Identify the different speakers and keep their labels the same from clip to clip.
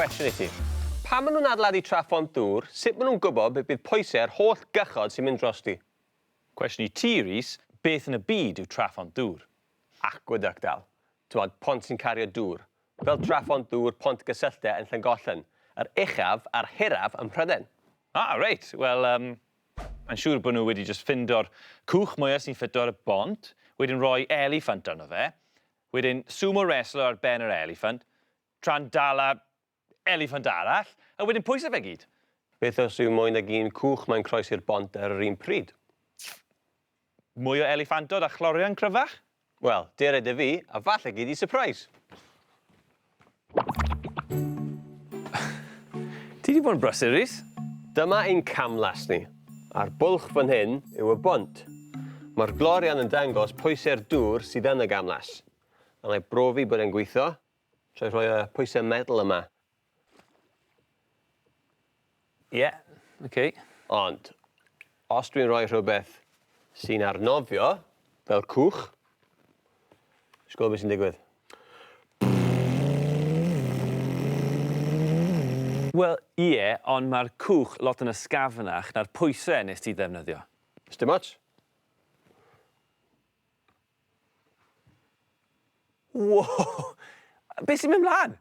Speaker 1: Cwestiwn i ti. Pan maen nhw'n adeiladu tra phont dŵr, sut maen nhw'n gwybod beth bydd pwysau yr holl gychod sy'n mynd drosti? Cwestiwn i
Speaker 2: ti, Rhys, beth yn y byd yw tra phont dŵr? Aqueduct,
Speaker 1: Al. T'mod, pont sy'n cario dŵr. Fel tra phont dŵr, pont gysylltau yn Llangollen. Yr uchaf a'r hiraf ym Mhrydain. Ah, reit.
Speaker 2: Wel, yym, Mae'n siŵr bod nhw wedi jyst ffindo'r cwch mwya sy'n ffito ar y bont, wedyn roi eliffant arno fe, wedyn sumo wrestler ar ben yr eliffant, tra'n dala eliffant arall, a wedyn pwyso fe gyd! Beth os yw mwy
Speaker 1: nag un cwch mae'n croesi'r bont ar yr un pryd?
Speaker 2: Mwy o eliffantod a chlorian cryfach? Wel, dere
Speaker 1: 'da fi, a falle gei di sypreis!
Speaker 2: Ti 'di bod yn brysur, Rhys. Dyma ein
Speaker 1: camlas ni. A'r bwlch fan hyn yw y bont. Mae'r glorian yn dangos pwysau'r dŵr sydd yn y gamlas. A wna i brofi bod e'n gweithio trwy rhoi y pwysau metal yma
Speaker 2: Ie, oce. Ond,
Speaker 1: os dwi'n rhoi rhywbeth sy'n arnofio, fel cwch, ti'n gwybod beth sy'n digwydd?
Speaker 2: Wel, ie, ond mae'r cwch lot yn ysgafnach na'r pwysau wnest ti ddefnyddio. Sdim ots. Wow! Beth sy'n mynd mlaen?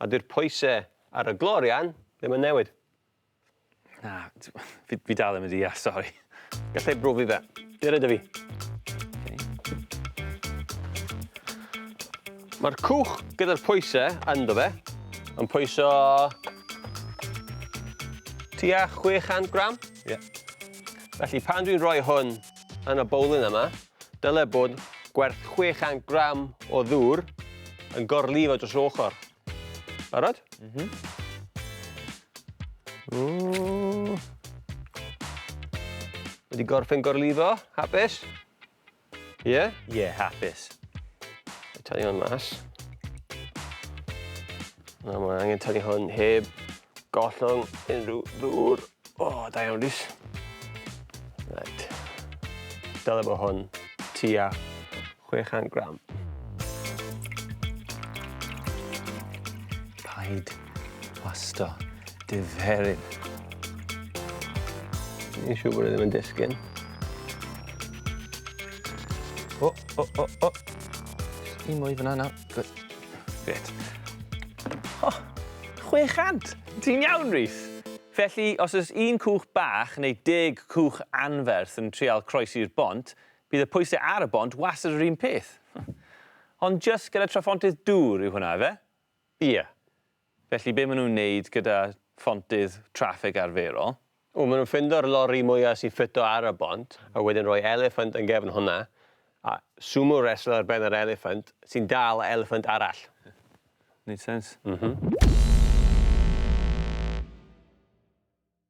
Speaker 1: A dyw'r pwysau ar y glorian ddim yn newid. Na,
Speaker 2: fi, fi dal ddim yn deall, sori. Gallai brofi
Speaker 1: fe. Be rydw fi? Mae'r cwch gyda'r pwysau ynddo fe yn pwyso tua 600 gram. Ie.
Speaker 2: Felly
Speaker 1: pan dwi'n rhoi hwn yn y bowlen yma, Dylai bod gwerth 600 gram o ddŵr yn gorlifo dros yr ochr. Barod? Mhm. Mm. Wedi gorffen gorlifo, hapus? Ie? Yeah? Ie, yeah, hapus. Tynnu hwn mas. Na, mae angen tynnu hwn heb gollwng unrhyw ddŵr. O, da iawn, Rhys. Reit. Dyle bod hwn tua 600 gram.
Speaker 2: Paid plasto dy ferin.
Speaker 1: Ni'n siŵr bod e ddim yn disgyn.
Speaker 2: O, o, o, o. Un mwy fyna nawr. Good. Grêt. O! 600! Ti'n iawn, Rhys? Felly, os oes un cwch bach neu deg cwch anferth yn trial croesi'r bont, bydd y pwysau ar y bont wastad yr un peth. Ond jyst gyda traphontydd dŵr yw hwnna, ife? Ie.
Speaker 1: Felly
Speaker 2: be maen nhw'n wneud gyda phontydd traffig arferol? Wel, maen nhw'n ffindo'r
Speaker 1: lori mwya sy'n ffito ar y bont, a wedyn rhoi eliffant yn gefn hwnna, a sumo wrestler ar ben yr eliffant,
Speaker 2: sy'n
Speaker 1: dal y eliffant arall.
Speaker 2: Neud
Speaker 1: sense? M-hm.